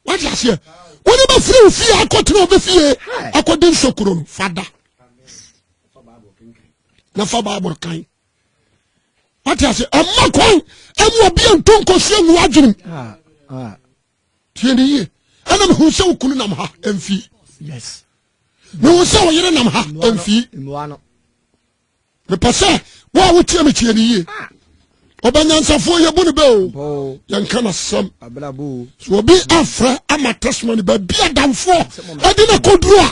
wate aseɛ wone bɛfiri wo fie akɔtena ɔbɛ fie akɔde nsokuro no fada na fa bible kan wate ase ɛma kwan ɛmu obi a nto nkɔsi angu adwenem ah, ah. tie ne yie ɛna mehu sɛ wo kunu nam ha ɛmfie mehu sɛ wo yere nam ha ɛmfie mepɛ sɛ wo a wotie me tie ne yie ɔbɛnyansafoɔ yɛbu no bɛ o yɛnka no asɛm so obi afrɛ ama testimony baabi adamfoɔ ɛde no kɔduru a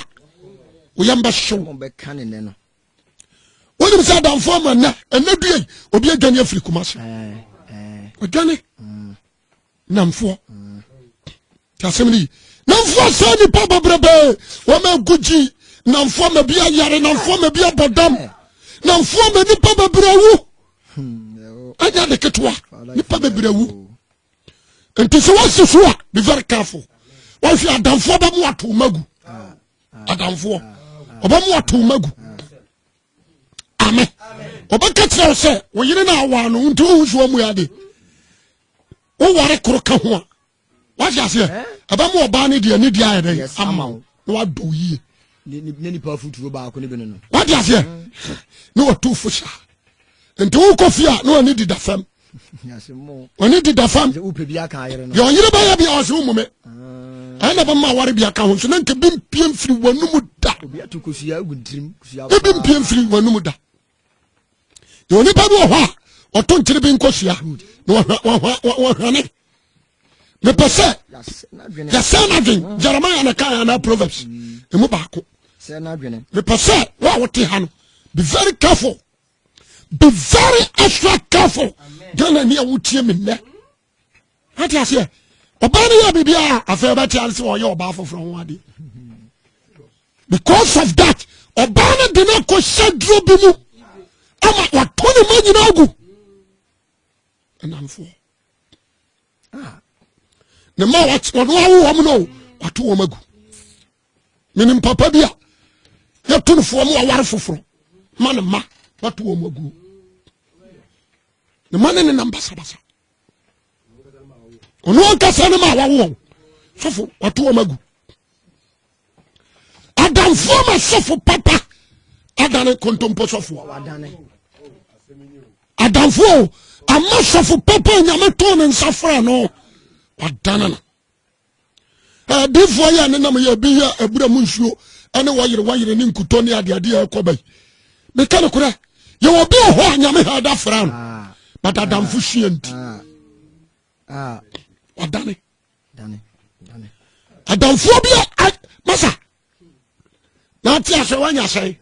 woyɛ mbɛhyew wonim sɛ adamfoɔ ma nnɛ ɛnɛ duei obi adwane afiri kuma se ɔdwane namfoɔ ti asɛm no yi namfoɔ sɛ nipa bɛbrɛbɛɛ wɔn agu gyi namfoɔ ma bi ayare namfoɔ ma bi abɔ dam namfoɔ ma nipa bɛbrɛ wu ɛnyɛ de ketewa nipa bɛbrɛ wu nti sɛ wɔsi so a be very careful wɔhwɛ adamfoɔ bɛmo ato magu adamfoɔ ɔbɛmo ato magu ame ɔbɛka kyerɛ wo sɛ wo yere no awaa no nti wohu so amu ade woware koro ka ho a wahye aseɛ eh? ɛbɛma ɔbaa no deɛ ne deɛ ayɛ dɛn ama wo na wadɔ wo yie wade aseɛ na watu fo saa nti wokɔ fie a na wani dida fam ɔne deda fam deɛ ɔyere bɛyɛ bia ɔse wo mome ɛyɛ na bɛma aware bia ka ho nso na nka bi mpie mfiri w'anom da obi mpie mfiri w'anom da na onipa bi wɔ hɔ a ɔto nkyere bi nkɔsua na wɔhwane mepɛ sɛ yɛsɛ no adwen jeremia na kae anaa proverbs ɛmu baako mepɛ sɛ wo a wote ha no be very careful be very extra careful ghana ni a wotie me nnɛ ate aseɛ ɔbaa no yɛ biribi a afei ɔbɛte ase sɛ ɔyɛ ɔbaa foforɔ ho adeɛ because of that ɔbaa no de no akɔ hyɛ duro bi mu ama wato ne ma nyina agu ɛnamfoɔ ne ma ɔno awo wɔm no wato wɔm agu menim papa bi a yɛto no foɔ mu aware foforɔ ma ne ma wato wɔn aguo ne ma ne ne nam basabasa ɔno ankasa ne ma wawo wɔn sɔfo wato wɔn agu adamfoɔ ma sɔfo papa adane kontompo sɔfoɔ adamfoɔ ama sɔfo papa nyame too ne nsa frɛ no wadane no Adiifoɔ yɛ ne nam yɛ ebi yɛ abura mu nsuo ɛne wɔyere wɔyere ne nkutɔ ne adeade a ɛkɔ bɛyi. Meka no korɛ, yɛwɔ bi wɔ hɔ a nyame ha ɛda fra no, ah. but adamfo ah. sua nti. Ah. Wadane. Adamfoɔ bi a, masa, na ate asɛ woanya sɛn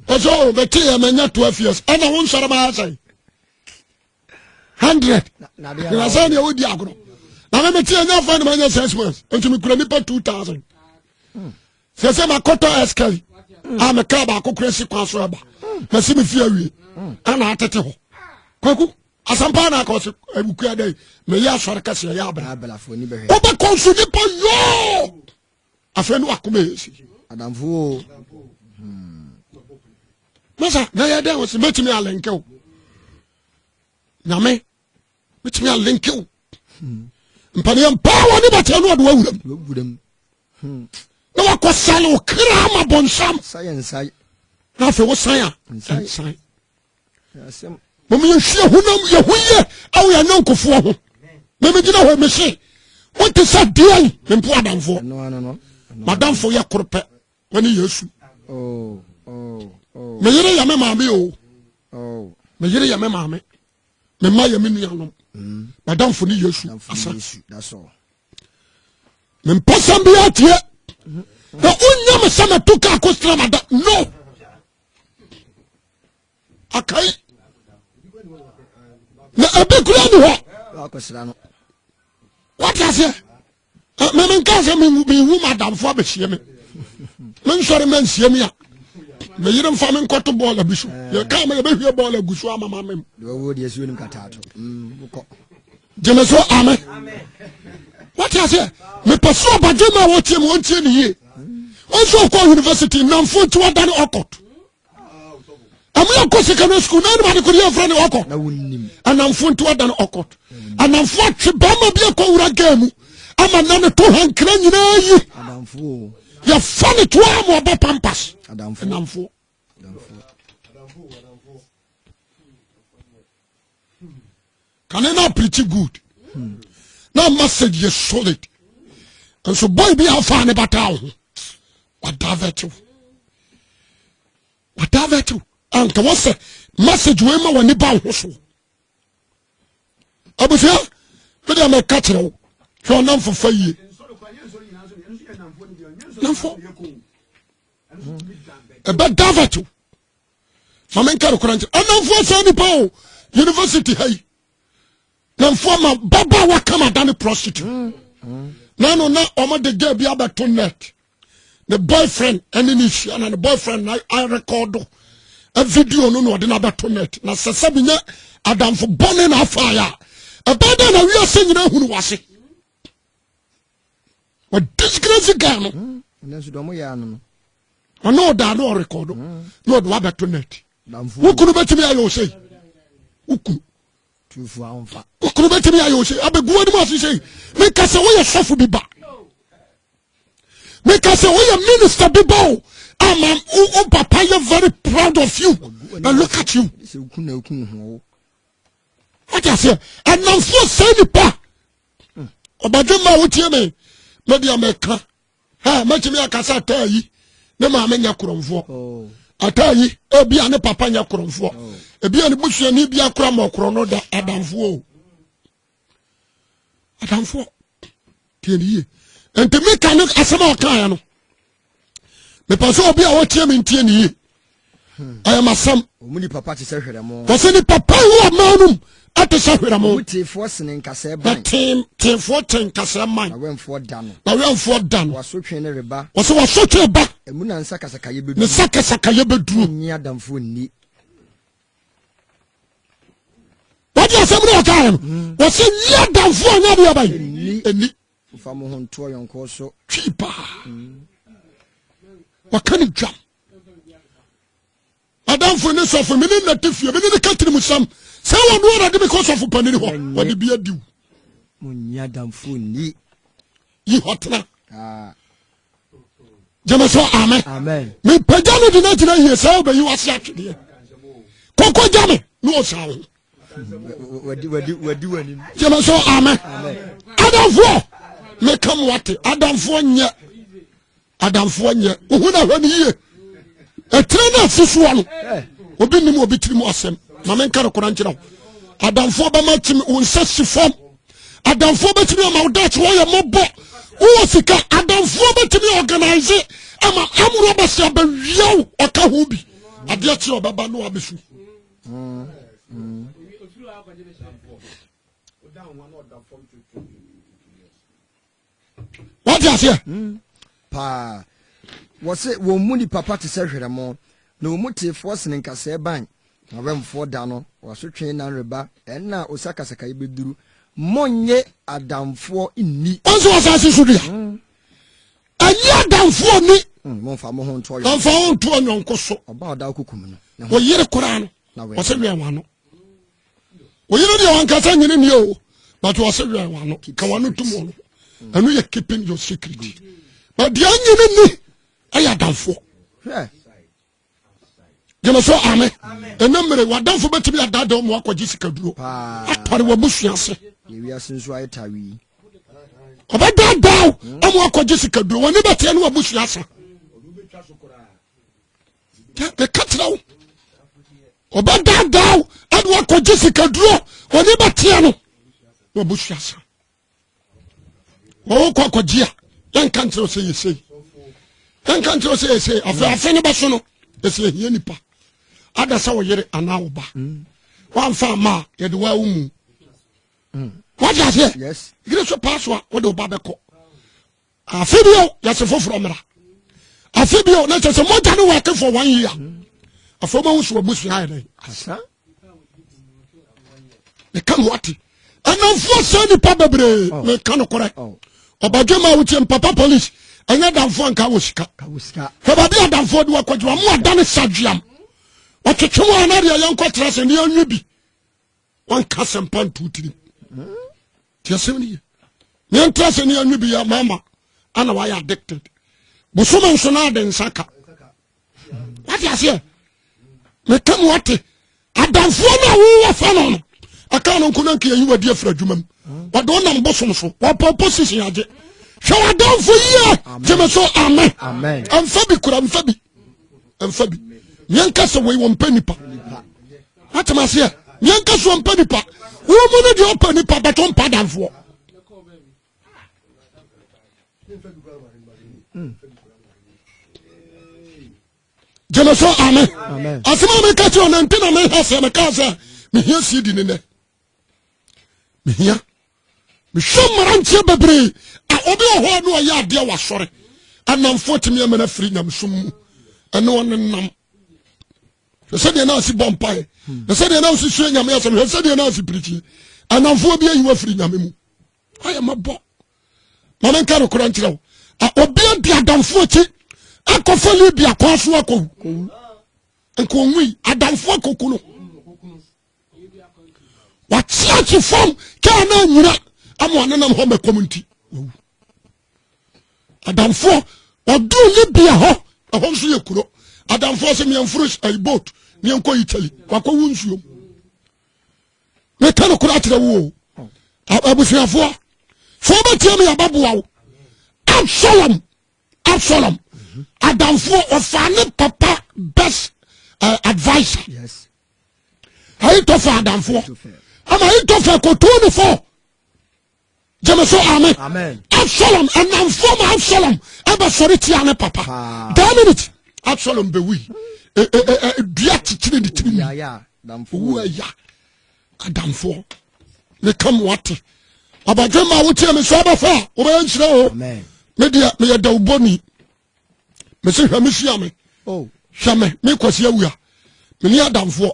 ɛsɛ o bɛteɛ manya 12 years ɛna wo nsɔre bɛyɛ sɛn 100 na sɛ neɛ wodi agorɔ na me meteɛ nya fa ne manya 6 months nti mekura nnipa 2000 sɛ sɛ makɔtɔ ɛskari a meka baako kora si kwan so ɛba masi me fie awie ɛna atete hɔ kwaku asampa na akɔ so awukua dɛ meyɛ asɔre kɛseɛ yɛ abra wobɛkɔ nso nipa yoo afei ne wakoma yɛ si adamfo o hmm. masa na yɛ dɛn wɔsi mɛtumi alɛnkɛ o nyame mɛtumi alɛnkɛ o hmm. mpaneɛ mpaa wɔ ne bɛtɛ no ɔde wawuram hmm. na wakɔ sale wo kra ma bɔnsam na afei wo san a nsan mom yɛhwie honam yɛho yɛ ɛwɔ yɛ nyɔnkofoɔ ho memegyina hɔ mese wote sɛ deɛn mempo adamfoɔ madamfo yɛ koro pɛ wane yesu oh, oh, oh. meyere yɛ me maame o meyere yɛ me maame mema yɛ me nuanom mm. madamfo ne yesu asa mempɛ sɛm biaa tie mm-hmm. na wonya me sɛ mato ka akɔstra mada no akai na ɛbi kura ni hɔ wate aseɛ meme nka sɛ mehu madamfo abɛhyia me mensɔre ma nsia mi a meyere mfa me nkɔto bɔɔla bi so yɛka ma yɛbɛhwie bɔɔla gu so amama mem gyeme so ame wate aseɛ mepɛ so ɔbadwe ma wɔtie mu ɔntie ne yie ɔnso ɔkɔ university nnamfo nti wada ne ɔkɔt ɛmu yɛkɔ secondary school na anim adekode yɛmfrɛ ne ɔkɔt anamfo nti wada ne ɔkɔt anamfo atwe bɛrima bi akɔ wura gaa mu ama na ne to hankra nyinaa yi yɛfa ne toa ma ɔbɔ pampas anamfoɔ kane na preach good na message yɛ solid nso boy bi afa ne bata wo ho wadavɛte wo wadavɛte wo anka wɔsɛ message wei ma w'ani ba wo ho so abusua mede mɛka kyerɛ wo hwɛ ɔnamfo fa yie namfo ɛbɛ davet o ma menka nokora nkyerɛ ɛnamfoɔ saa nipa o university ha yi namfoɔ ma baba wakam ada ne prostitute mm, mm. na no na ɔmode gya bi abɛto net ne boyfriend ɛne ne hyia na ne boyfriend na arekɔdo video no na ɔde no abɛto net na sɛ sɛ menyɛ adamfo bɔne na afaeɛ a ɛbɛɛ dɛ na wiase nyina hunu wase wɔ disgrace guy no hmm, ɔne ɔdaa ne ɔrekɔdo hmm. na ɔde wabɛto net wokunu bɛtumi ayɛ wo sei wokunu wokunu bɛtumi ayɛ wo sei abɛguwa no mu ase sei meka sɛ woyɛ sɔfo bi ba meka sɛ woyɛ minister bi ba o ama wo papa yɛ very proud of you na look at you wode aseɛ ɛnamfoɔ sɛ nipa ɔbadwemma a wotie me mɛbi a mɛka ha mɛtumi aka sɛ ataa yi ne maame nyɛ korɔmfoɔ oh. ataa yi ebi a ne papa nyɛ korɔmfoɔ oh. ebi a ne busuani bi akora ma ɔkorɔ no da adamfoɔ o adamfoɔ tie ne yie nti mika ne asɛm a ɔkaeɛ no mepɛ sɛ obi a wɔtie me ntie ne yie ɛyɛ masɛm wɔsɛ ne papa yi wɔ ɔman nom ɛte sɛ hwerɛmo teefoɔ kyɛn nkasɛɛ man na wɛmfoɔ da no wɔso twe ne reba wɔsɛ wɔso twe ba ɛmu na nsa kasakayɛ bɛduru ne nsa kasakayɛ bɛduru nyi adamfoɔ nni wɔde asɛm no wɔkaeɛ no wɔsɛ nyi adamfoɔ nyɛ deɛ bɛyi ɛni Mfa mo ho nto ɔyɔnkoɔ so. Twi paa. Waka ne dwam. Adamfo ne sɔfo me ne nate fie me ne ne ka tirim sam sɛ wɔn no ara de me kɔ sɔfo panin hɔ wɔde bi adiw. Mo nya damfo ni. Yi hɔ tena. Ah. gyeme so amen mepagya no de no agyina yie sɛ wobɛyi wase atwedeɛ kɔkɔ gya me na ɔsaa wo gyeme so amen adamfoɔ meka mo ate adamfoɔ nyɛ adamfoɔ nyɛ wohu no ahwɛ no yie ɛtire no asi soɔ no obi nim obi tiri mu asɛm ma menka no kora nkyerɛ wo adamfoɔ bɛma kyimi wo nsa si fam adamfoɔ bɛtumi ama wo daakye wɔyɛ mmɔbɔ wowɔ sika adamfoɔ bɛtumi organise ama amorɔ bɛsɛ abɛwia wo ɔka ho bi adeɛ kyeɛ ɔbɛba no abɛsu wɔte aseɛ hmm. paa wɔ se wɔn mu ni papa te sɛ hwerɛmo na wɔn mu teefoɔ sene nkasɛɛ ban na wɛmfoɔ da no wɔasotwe nan reba ɛnna a osakasaka yi bɛduru monnye adamfoɔ nni ɔnso wɔ asase so dua hmm. ɛnyɛ adamfoɔ ni hmm, mɔmfa mo ho ntoɔ yɔnko mɔmfa ho ntoɔ yɔnko so ɔba ɔda kokum no ɔyere koraa no ɔsɛ wɛn wano woyere deɛ wankasa nyene nie o but wɔse wɛn wano ka wano tom ɔno ɛno yɛ keeping your secret but deɛ nyene ni ɛyɛ adamfoɔ gyeme so ame ɛna mmere wadamfo bɛtumi adada ɔmo akɔgye sikaduro atɔre wabusua ase ɔbɛdaadaa ɔmo akɔgye sikaduro wɔne bɛteɛ ne wabusua asa meka kyerɛ wo ɔbɛdaadaa wo ɛne wakɔgye sikaduro ɔne bɛteɛ no na ɔbɛsua sa wɔwɔ kɔ akɔgye a yɛnka nkyerɛ wo sɛ yɛsei yɛnka nkyerɛ wo sɛ yɛsei afei mm. afe no bɛso no ɛsɛ ɛhia nipa ada sɛ wo yere anaa wo ba mm. woamfa ama a yɛde waa wo mu mm. wagye aseɛ yere so paa so a wode wo ba bɛkɔ afe bio yɛse foforɔ mmra afe bio na kyɛ sɛ mogya no wɔke for one year afei ma wo so abusua ayɛ dɛn asa meka ho ate ɛnamfoɔ sɛ nnipa bebree oh. meka nokorɛ oh. ɔbadwama a wotie mpapa police ɛnyɛ damfoɔ nka wɔ sika fɛbaabi a damfoɔ de wakɔdwuma mo ada ne sadweam ɔtwetwe mu anadeɛ yɛnkɔtra sɛ ne anwe bi wanka asɛmpa nto tirim nti asɛm no ye yɛntra sɛ ne yɛnwe bi yɛ mama ana wayɛ addicted bosom nso no ade nsa ka wate aseɛ meka mu ate adamfoɔ no a wowɔ fa no no ɛka no nko no nka yɛyi wadi afiri adwuma mu wɔde wo nam bosom so wɔpɔ position agye hwɛ wadamfo yie gyeme so amen ɛmfa bi kura mfa bi ɛmfa bi yɛnka sɛ wei wɔmpɛ nipa atem aseɛ yɛnka sɛ wɔmpɛ nipa wo mu no deɛ ɔpɛ nipa bɛtɔ mpa danfoɔ gyeme so ame asɛm a meka kyerɛ ɔnante na meha sɛ mekaa sɛ mehia sii di ne nɛ mehia mehwɛ mmeranteɛ bebree a obi wɔ hɔ a ne ɔyɛ adeɛ wɔ asɔre anamfoɔ tumi ama no afiri nyamesom mu ɛne ɔne nam hwɛ sɛdeɛ na asi bɔ mpae hwɛ sɛdeɛ na asi sua nyame asɛm hwɛ sɛdeɛ na asi pirikyi anamfoɔ bi ayi wafiri nyame mu ayɛ mabɔ ma menka no kora nkyerɛ wo obi adi adamfoɔ akyi akɔfa libia kɔa so akɔwu nka ɔnwui adamfoɔ akɔku no wakyeakye fam kaa no anyina ama ɔnenam hɔ mɛkɔm nti wawu adamfoɔ ɔduu libya hɔ ɛhɔ nso yɛ kuro adamfoɔ sɛ meɛmforo eh, boat meɛnkɔ italy wakɔwo nsuom meka no kora akyerɛ wo abusuafoɔ fo bɛtia me yɛbɛboa wo absalom absalom adamfoɔ ɔfaa ne papa best uh, advisor yes. ahitofel adamfoɔ ama ahitofel kɔtuu ne fo gyeme so ame absalom ɛnamfoɔ ma absalom ɛbɛsɔre tia ne papa daa minute absalom bɛwui e, e, e, dua kyekyere ne tiri mu owu aya adamfoɔ ne ka mo ate abadwe ma wotie me so abɛfa a wobɛyɛ nhyerɛ o medeɛ meyɛ dawubɔni mese hwɛ me hyia me oh. hwɛ me me kwasi awia me ni adamfoɔ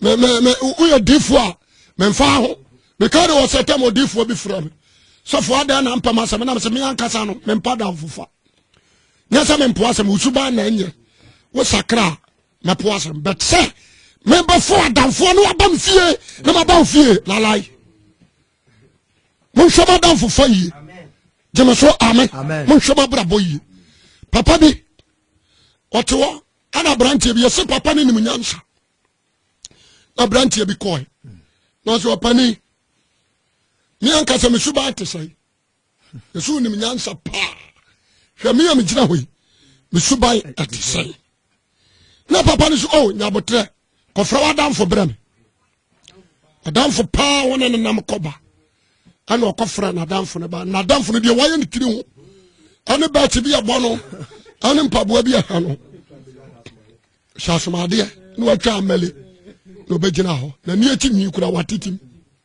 me me me woyɛ difoɔ a me nfa ho me ka de wɔ sɛ tɛm odifoɔ bi fira me sɔfo adan na mpɛm asɛm na me se me ankasa no me mpa damfofa nyɛ sɛ me mpo asɛm wosuban na ɛnyɛ wo sakra na po asɛm but sɛ mebɛfo adamfoɔ no aba me fie na maba wo fie lalae monhwɛ mo adamfofa yie gyeme so ame monhwɛ mo abrabɔ yie papa bi ɔte hɔ ana aberanteɛ bi yɛse papa no nim nyansa na aberanteɛ bi kɔe nanso ɔpani me ankasa mesu baa te sɛe Yesu wonim nyansa paa hwɛ me a megyina hɔ yi me suban ɛte sɛn na papa no so o oh, nyabotrɛ kɔfrɛ w'adamfo berɛ me adamfo paa wo ne nenam kɔba ɛna ɔkɔfrɛ n'adamfo no ba n'adamfo no deɛ wayɛ ne tiri ho ɛne bɛɛkye bi ɛbɔ no ɛne mpaboa bi ɛha no hyɛ asomadeɛ na watwa amɛle na ɔbɛgyina hɔ na ni akyi nwi kura watetim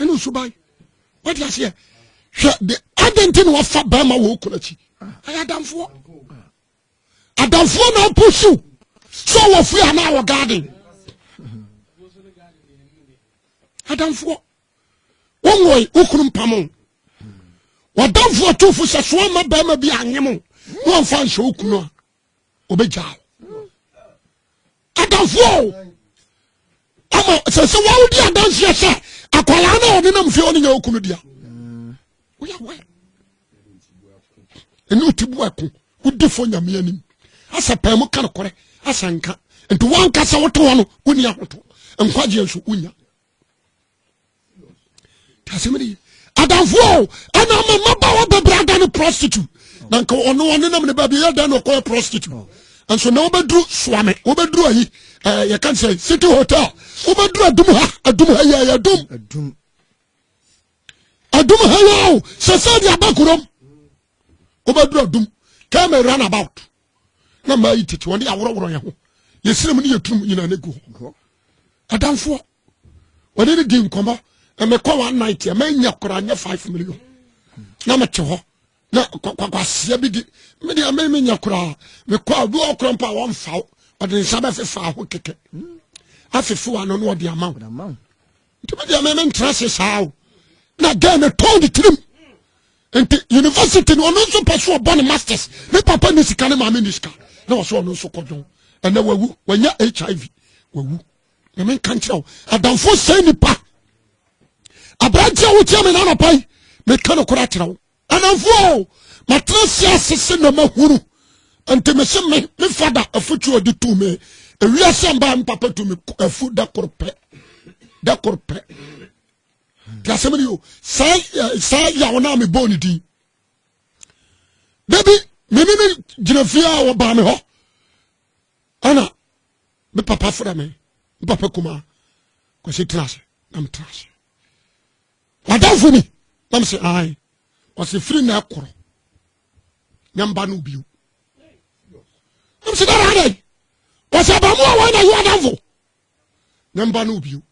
ɛne nsuban wode aseɛ hwɛ de adɛn nti na wafa bɛrima wɔ okunu akyi ɛyɛ adamfoɔ adamfoɔ na apo siw sɛ wɔ fie anaa wɔ garden adamfoɔ wɔnwɔe wokunu mpamo wadamfoɔ tofo sɛ soa ma bɛrima bi anyem na ɔmfa nhyɛ wokunu a ɔbɛgyaa wo adamfoɔ o ama sɛ sɛ wawodi adanseɛ sɛ akwadaa no a ɔde nam fie ɔne nyɛ ɔku no dea woyɛ wɛ ɛne ɔti bu ako wodi fo nyame anim asɛ pɛɛ mu ka nokorɛ asɛ nka nti woanka sɛ wote hɔ no wonni ahoto nkwagyeɛ nso wonya asɛm ne ye adamfoɔ ɛna ama mmabaawa bɛbrɛ ada ne prostitute na nka ɔno ɔne nam ne baabi yɛ dan na ɔkɔyɛ prostitute nso na wobɛduru soame wobɛduru ayi eh, yɛka sɛ city hotel wobɛduru adum ha adum ha yɛ yɛ adum adum ha yɛ o sɛ sɛ de aba kurom wobɛduru adum kɛmɛ run about na maa yi tete wɔn de aworɔworɔ yɛn ho yɛsrɛ mu ne yɛtunu mu nyinaa no gu hɔ adamfoɔ wɔde ne di nkɔmmɔ na mekɔ one night a manya koraa nyɛ five million na mete hɔ na kwakwaseɛ bi di mede ame menya koraa mekɔ a obi ɔkorɔ mpo a wɔmfa wo ɔde nsa bɛfefa ho kɛkɛ afefe wa no na ɔde ama wo nti me deɛ me mentra se saa o na gɛn no tɔn ne tirim nti university no ɔno nso pɛ so ɔbɔ ne masters ne papa ne sika ne maame ne sika na ɔsɛ ɔno nso kɔdwon ɛnɛ wawu wanya hiv wawu na menka nkyerɛ wo adamfo sɛ nipa aberanteɛ wotia me na anapa yi meka no kora kyerɛ wo Anamfoɔ o, matena aseɛ ase se na mahunu nti me se me me fada afutuo ɔde tu me ewiase mbaa me papa tu me afu da koro pɛ da koro pɛ te asɛm ni o saa saa yaw na me bɔɔ ne din dabi me ne ne gyina fie a wɔbaa me hɔ ana me papa fada me me papa kuma kwasi tena ase na me tena ase W'adamfo ni? Na mese, Ae. Ɔse, Firi na ɛkorɔ na mba no bio. Na mese, Dada adɛn? Ɔse, Abamu a wɔn na yɛ ɔdamfo na mba no bio.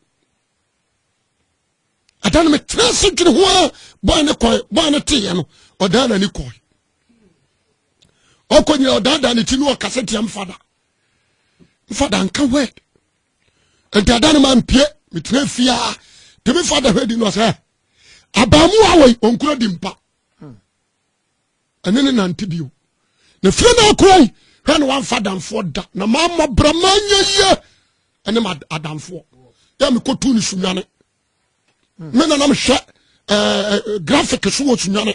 Ɛda no metra se dwene ho a bɔn ne kɔe, bɔn ne teeɛ no, ɔdaa n'ani kɔe. Ɔkɔ nyina ɔdaadaa ne ti no ɔkasa tia mfada. Mfada nka word. nti ada no ma mpie metena fie a de me fa da hwɛ di no sɛ abaamu a wɔyi ɔnkura di mpa ɛne ne nante bio na fie no akura yi hwɛ no wamfa adamfoɔ da na mammɔ brɛ manyɛ yie ɛne ma adamfoɔ yɛ mekɔtu ne sunwane me na na mehwɛ ɛɛ graphic so wɔ sunyane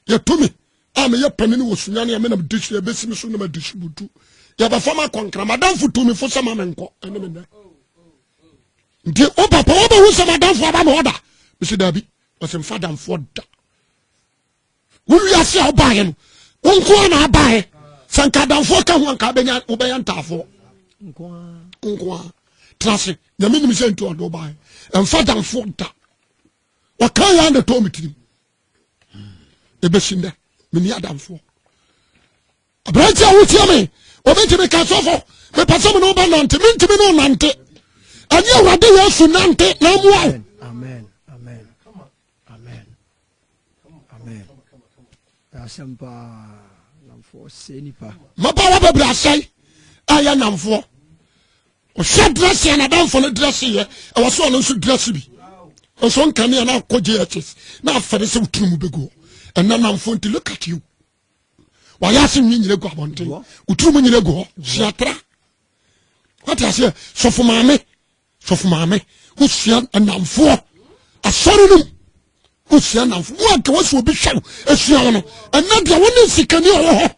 yɛto me a meyɛ panini wɔ sunyane a me na mede ɛbɛsi me so na madi si butu yɛbɛfa ma kɔnkra madamfo tu me fo sɛ ma me nkɔ ɛne me nnɛ nti wo papa wobɛhu sɛ madamfo aba me ɔda mesi daabi ɔsɛ mfa damfoɔ da Wo wiase a wobaeɛ no, wo nko ara na abaeɛ. Sɛ nka adamfoɔ ka ho anka wobɛnya wobɛyɛ ntaafoɔ. Nko ara. Tena ase. Nyame nim sɛ nti ɔde wobaeɛ. Ɛmfa adamfoɔ da. Ɔka yɛ na ɛtɔ me tirim. Ɛbɛsi nnɛ, menni adamfoɔ. Aberante a wotia me, wɔbɛtumi ka sɔfo, mepɛ sɛ me ne woba nante, mentumi ne wo nante. Ɛnyɛ Awurade Yesu nante na mmoa wo. Amen. Amen. Asɛm paa. Namfoɔ sɛ nipa. Mapa wɔ bɛbrɛ asɛe ɛyɛ namfoɔ. Ɔhwɛ dírɛsi na adanfo no dírɛsi yɛ ɛwɔ so ɔno nso dírɛsi bi. Nso nkanea na akɔ JHS na afɛde sɛ woturu mu bɛgu ɛnna namfoɔ nti look at you. Wayɛ ase nwi nyina gu abɔnten. Woturu mu nyina gu hɔ. Siatra. Wate aseɛ sɔfo maame. sɔfo maame wosua nnamfoɔ asɔre no mu wosua nnamfo wo anka wasi obi hwɛ wo asua wo no ɛnɛ deɛ wo ne nsikani a ɔwɔ hɔ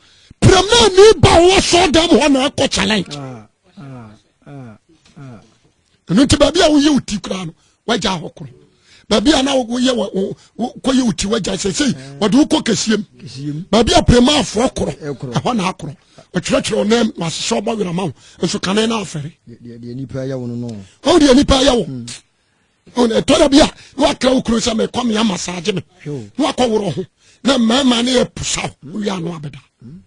piramani ba ɔwɔ asɔre dan mu hɔ na ɛkɔ challenge ah, ah, ah, ɛno nti baabi a woyɛ wo ti koraa no wagya hɔ koro baabi a na woyɛ kɔyɛ wo ti wagya sɛsei mm. wɔde wokɔ kɛsiem baabi a premaafoɔ korɔ ɛhɔ na akorɔ ɔtwerɛtwerɛ ɔnam na asesɛ ɔbɔ werɛ ma wo nso kane no afɛre ɔwo deɛ nipa yɛ wo mm. ɛtɔ da bi a na wakra wo kuro sɛ mekɔ mea masaagye me na wakɔ worɔ ho na mmarima ne yɛ posaw wowie ano abɛda mm.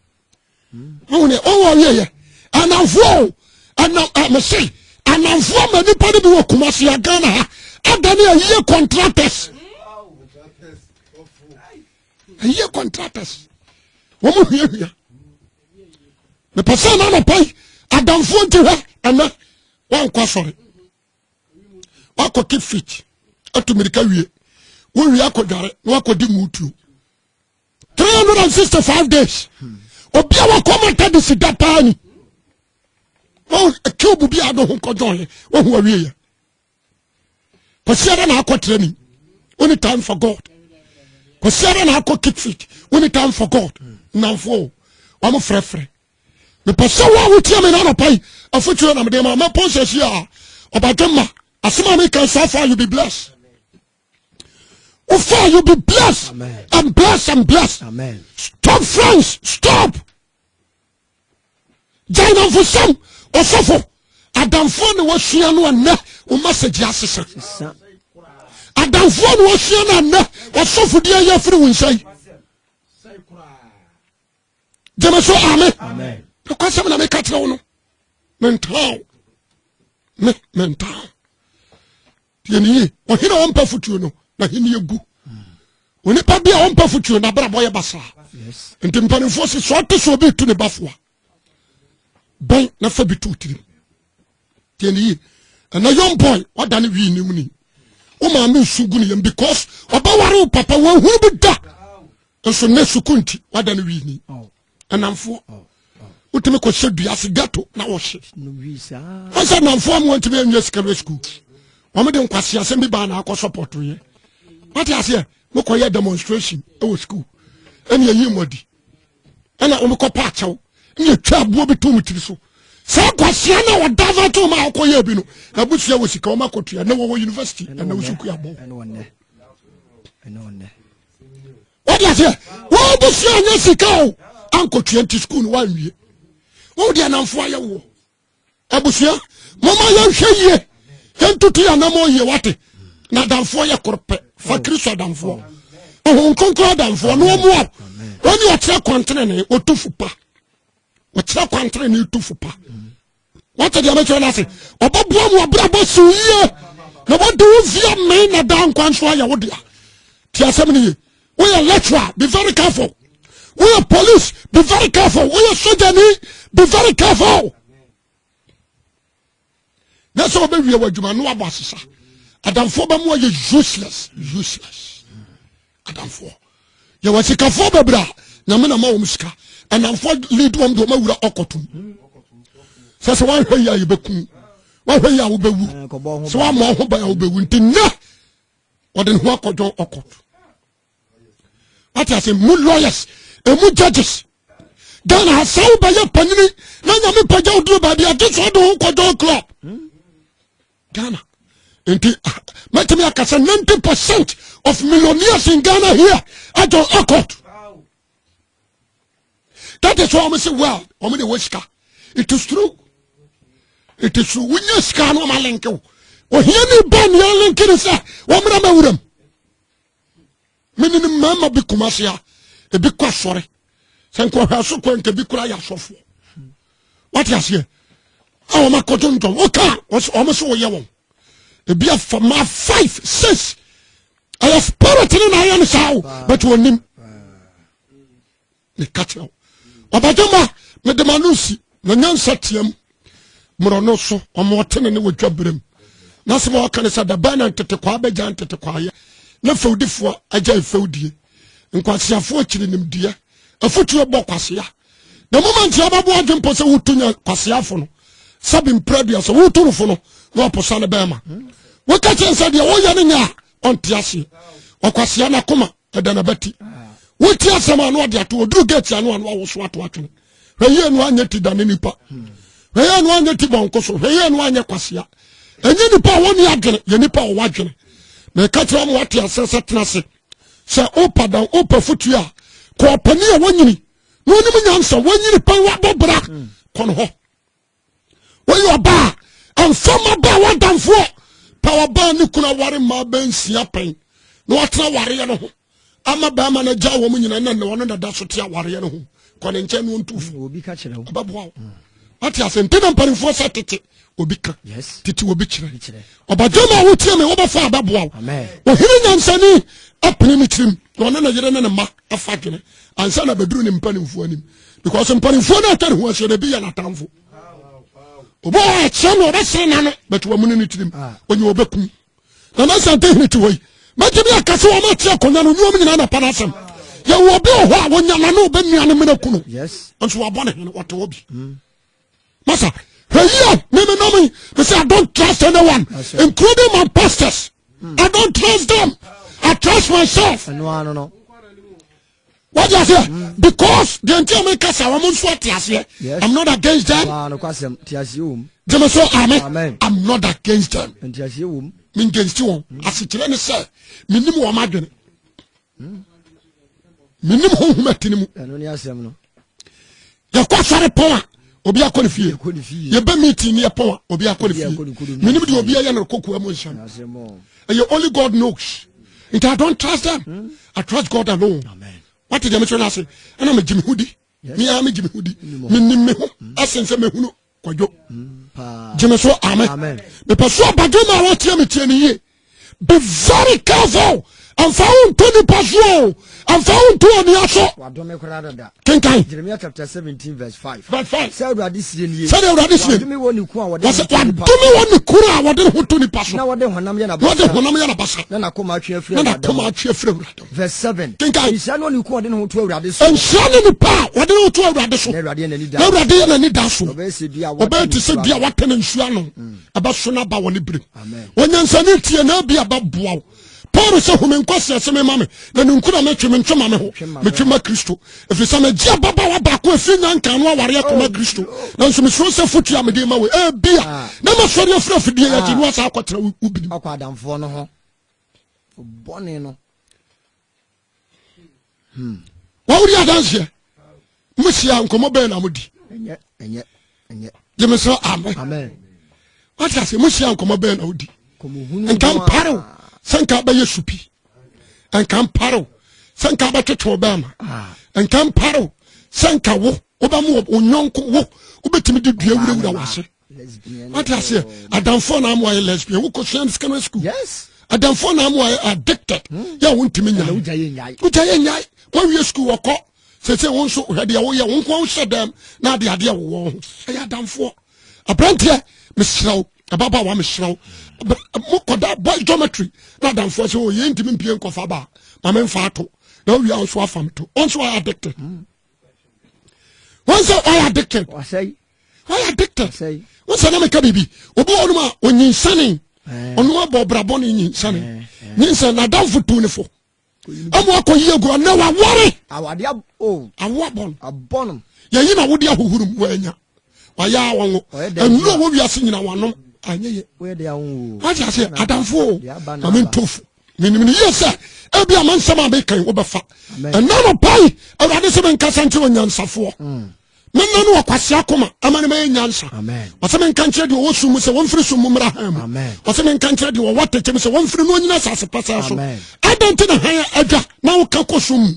ɔwɔ ɔwɔ yɛ yɛ ananfoɔ ɛnam ɛmɛsɛ ananfoɔ ma nipa de bi wɔ kumasi agana ha adani ayie contractors ayie contractors wɔn mu hia hia mepɛ sɛ ɛna anapa yi adanfoɔ nti hɛ ɛnɛ wankɔ asɔre wakɔ keep fit atu mirika wie wowie akɔdware na wakɔdi mutuo 365 days obi a wakɔ mata de si da paa ni wɔn cube bi a do ho nkɔjɔn yɛ wɔn ho awie yɛ kwasi ara na akɔ training only time for god kwasi ara na akɔ keep fit only time for god nnamfo wɔn frɛfrɛ mepɛ sɛ wo a wotia me no anɔpa yi afotuo na mede ma mɛpɔn sɛ si a ɔbadwe ma asɛm a meka saa fa you be blessed Ufa, you be blessed Amen. and blessed and blessed. Amen. Stop friends, stop. Jaina Fusam, Osofo, Adamfo na wasua no ɛnɛ, o message asesa. Adamfo na wasua no ɛnɛ, osofo di ayɛ firi wo nsa yi. Gyeme so amen. Nokwasɛm na meka kyerɛ wo no. Mentaa wo. Me, mentaa wo. Tie ne yie. Ɔhene a ɔmpɛ fotuo no, n'ahenni agu. Onipa bi a ɔmpɛ fotuo no, n'abrabɔ yɛ basaa. Nti mpanimfoɔ se, sɛ ɔte sɛ obi retu ne ba fo a, bɛn na fa bi to wo tirim. Tie ne yie. Ɛnna young boy, wada ne wii nim ni. Wo maame nsu gu ne yam because ɔbɛware wo papa, wɔahunu bi da. Nso nnɛ sukuu nti, wada ne wii ni. anamfoɔ wotumi kɔhyɛ dua ase gato na wɔhye ɔsɛ anamfoɔ mu wɔntumi anwie secondary school wɔmde nkwase asɛm bi baa na akɔ sɔpɔtoyɛ wate aseɛ mokɔyɛ demonstration ɛwɔ school ɛne ɛyi mmɔdi ɛna wɔmekɔ pa akyɛw ne ɛtwa aboɔ bi to mu tiri so saa kwasia no a wɔda va to ma a wɔkɔyɛ bi no abusua wɔ sika wɔma kɔtua ne wɔwɔ university ɛna wo so kuabɔ wode aseɛ wobusua anya sika o ankɔtua nti sukuu no woanwie wode anamfo ayɛ woɔ abusua moma yɛnhwɛ yie yɛntoto yɛ anamɔ yie wate na adamfoɔ yɛ koro pɛ fa oh. kristo adamfoɔ ohun nkonkron adamfoɔ na ɔmo a wɔne ɔkyerɛ kwantere ne ɔtufo pa ɔkyerɛ kwantere ne ɔtufo pa wate deɛ mɛkyerɛ no ase ɔbɛboa mu abrabɔ siw yie na wɔde wo via mmɛn na daa nkwa nso ayɛ wo dea ti asɛm no ye woyɛ lecturer be very careful woyɛ police be very careful woyɛ sojani be very careful na sɛ wobɛwie wɔ adwuma no wabɔ asesa adamfoɔ bɛmu ayɛ useless useless adamfoɔ yɛwɔ sikafoɔ bebree a nyame na ma wɔn sika ɛnamfoɔ lead wɔn de wɔn awura ɔkɔtum sɛ sɛ wɔahwɛ yi a yɛbɛkum wɔahwɛ yi a wobɛwu sɛ wɔama wɔn ho ban a wobɛwu nti nnɛ wɔde ne ho akɔdwɔn ɔkɔt wate ase mu lawyers ɛmu judges ghana ha sɛ wobɛyɛ panyini na nyame pagya woduro baabi agye sɛ ɔde ho kɔdwɔn club Ghana. Nti ah, mɛtumi aka sɛ 90 percent of millionaires in Ghana here adɔn akɔt. That is why wɔn sɛ well wɔn de wɔ sika. It is true. It is true. Wonya sika na wɔn alenke wo. Ohia ni ba nea alenke ni sɛ wɔn mmerɛ mɛ wuram. mene no mmarima bi koma se a ebi kɔ asɔre sɛ nkɔhwɛ so kɔ nka bi kora yɛ asɔfoɔ wate aseɛ a wɔn akɔto ntɔn woka wɔn so wɔyɛ wɔn ebi afa ma five six ɛyɛ spirit ne na ayɛ no saa o but wɔnim meka kyerɛ wo ɔbadwama mede ma no nsi na nyansa team mmorɔ no so ɔma ɔtene ne wɔdwa berɛm na sɛ ma ɔka ne sɛ dabɛn na ntetekwaa bɛgya ntetekwaayɛ na fɛwdifoɔ agya mfɛwdie nkwaseafoɔ akyiri nimdeɛ afotuo bɔ kwasea na mu ma ntia bɛboa adwe mpo sɛ woto nya kwaseafo no sɛ bempira dua sɛ woto no fo no na ɔposa no bɛɛma woka kyɛn sɛ deɛ woyɛ no nyɛ a ɔnte aseɛ ɔkwasea no akoma ɛda na bɛti woti asɛm ano ɔde ato ɔduru gate ano ano awoso ato atwene hwɛyie no anyɛ ti dane nipa hwɛyie no anyɛ ti bɔnko so hwɛyie no anyɛ kwasea ɛnyɛ nipa a wɔne adwene yɛ nipa a wɔwɔ adwene na ɛka kyerɛ wɔn ate asɛ sɛ tena ase sɛ wopa dan wopa fotuo a kɔɔpani a wɔnyini na ɔnim nyansa wɔnyini pɛn wabɔ bra kɔ no hɔ woyɛ ɔbaa ɛmfa ma baa w'adamfoɔ pɛ ɔbaa ne kunu aware mmaa bɛnsia pɛn na watena awareɛ no ho ama bɛrima no agya wɔn nyina na ɔno na da so te awareɛ no ho kɔ ne nkyɛn no ɔntu fo ɛbɛboa wo mm. wate ase nti na mpanimfoɔ sɛ tete obi ka tete obi kyerɛ ɔbadwama a wotie me wobɛfa abɛboa wo ɔhene nyansani apene ne tirim na ɔne ne yere ne ne mma afa dwene ansa na bɛduru ne mpanimfoɔ anim because mpanimfoɔ no atwa ne ho ahyia no ebi yɛ n'atamfo obi wɔ akyerɛ no ɔbɛsere n'ano bɛte wɔn ne ne tirim ah. onye ɔbɛkum na na sante hene te hɔ yi mɛgye bi akasa wɔn akyerɛ akonnwa no nneɛma nyinaa na pa n'asɛm yɛwɔ obi wɔ hɔ a wɔnya n'ano ɔbɛnua ne mena kunu nso wabɔ ne hene wɔte hɔ bi mm. masa hwɛ yi a meme nam yi me say i don't trust anyone including my pastors hmm. i don't trust them i trust myself wọ́n di aseɛ hmm. because the nti a mi kasa wɔn nso ati aseɛ i'm not against them jẹ́mi sọ amen i'm not against them mi n jẹ́ nsi wɔn asekyerɛ ni sɛ mi nim wɔn adwene. hmm? menim honhom ati no mu yɛkɔ sɔre pɔn a obi akɔ ne fie yɛbɛ meeting ne yɛpɔn a obi akɔ ne fie menim deɛ obi ayɛ no kokoa mu nhyɛm ɛyɛ only god knows nti i don't trust them hmm? i trust god alone wate deɛ mesɛ no ase ɛna megye me ho di meaa megye me ho di menim me ho ɛsen sɛ mehunu kwadwo gyeme so ame mepɛ so abadwo ma wɔteɛ me teɛ no yie be very careful ɛmfa wo nto nipa so o ɛmfa wo nto onua so kenkan sɛdeɛ awurade sie nie wadome wɔ ne kunu a wɔde ne ho to nipa so na wɔde honam yɛ nabasa na nakoma atwe afiri awurade Verse seven. Kenkan. Nhyira ne onipa a ɔde ne ho to Awurade so. Nhyira ne nipa a ɔde ne ho to Awurade so. Na Awurade yɛ n'ani da. Na Awurade yɛ n'ani da so. Ɔbɛyɛ sɛ dua a wɔatena nsuo ano. Ɔbɛyɛ te sɛ dua a wɔatena nsuo ano. Mm. Ɛbɛso n'aba wɔ ne berem. Amen. Onyansani tie na ebi ɛbɛboa wo. Paul sɛ home nkɔ seɛ se mema me na ne nkura metwe mentwe ma me ho metwe ma Kristo ɛfiri sɛ megye ababaawa baako ɛfiri nya nka no awareɛ kɔma oh, Kristo nanso mesuro sɛ fotu a mede ma wo ɛbia ah. na masɔre afiri afidie yɛgye no asa akɔtena wo binim bɔne no hmm. wawodi adanseɛ mohyia nkɔmmɔ bɛɛ na modi gyeme sɛ amen wate ase mohyia nkɔmmɔ bɛɛ na wodi nka mparew sɛ nka bɛyɛ supi nka mparew sɛ nka bɛtwetwe bɛɛma ah. nka mparew sɛ nka wo wobɛma wo nyɔnko wo wobɛtumi de dua wurawura wase wate aseɛ adamfoɔ na ama wayɛ lesbian wokɔ sua no secondary school yes adamfoɔ na ama wayɛ addicted hmm. yɛ a wontumi nya wogya yɛ nyae wogya yɛ nyae wawie school wɔkɔ sɛsɛ wo nso hwɛ deɛ woyɛ wo nkoa wohyɛ dɛm na ade adeɛ wowɔ ho ɛyɛ adamfoɔ aberanteɛ meserɛ wo ɛbaba wa meserɛ wo mokɔda boy geometry na adamfoɔ sɛ ɔyɛ oh, ntimi mpie nkɔfa baa ma memfa ato na wowie a wo so afa me to ɔnso wayɛ addicted mm. wọn sɛ ɔyɛ addicted ɔyɛ addicted wọn sɛ nam ɛka biribi obi wɔ ɔnom a onyinsane ɔnom abɔ ɔbrabɔ ne nyinsane nyinsane n'adanfo tu ne fo ɛmu akɔ yie gu ɔnɛ wa wɔre awo abɔn abɔn yɛyi na wodi ahohoro mu wɔanya wɔayɛ awɔ ngo ɛnu a wɔwiase nyina wɔnom anyɛ yɛ wɔn ti ase adanfo o maame ntofo. menim no yie sɛ ebia ma nsɛm a mekan wobɛfa ɛna no pai awurade sɛ menkasa nkyerɛ onyansafoɔ mm. menna no ɔkwasea koma ama no mayɛ nyansa ɔsɛ menka nkyerɛ deɛ ɔwɔ sum mu sɛ wɔmfiri sum mu mmra han mu ɔsɛ menka nkyerɛ deɛ ɔwɔ atɛkyɛ mu sɛ wɔmfiri no ɔnyina asase pasaa so adɛn nti na han adwa na woka kɔ sum mu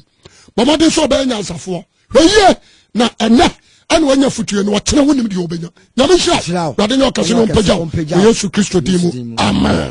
bɔmmɔden sɛ ɔbɛyɛ nyansafoɔ hwɛyie na ɛnɛ ɛna wanya fotue no ɔkyerɛ wonim deɛ ɔbɛnya nyame hyira wade ne ɔkɛse no ɔmpagya wɔ yesu kristo din mu amen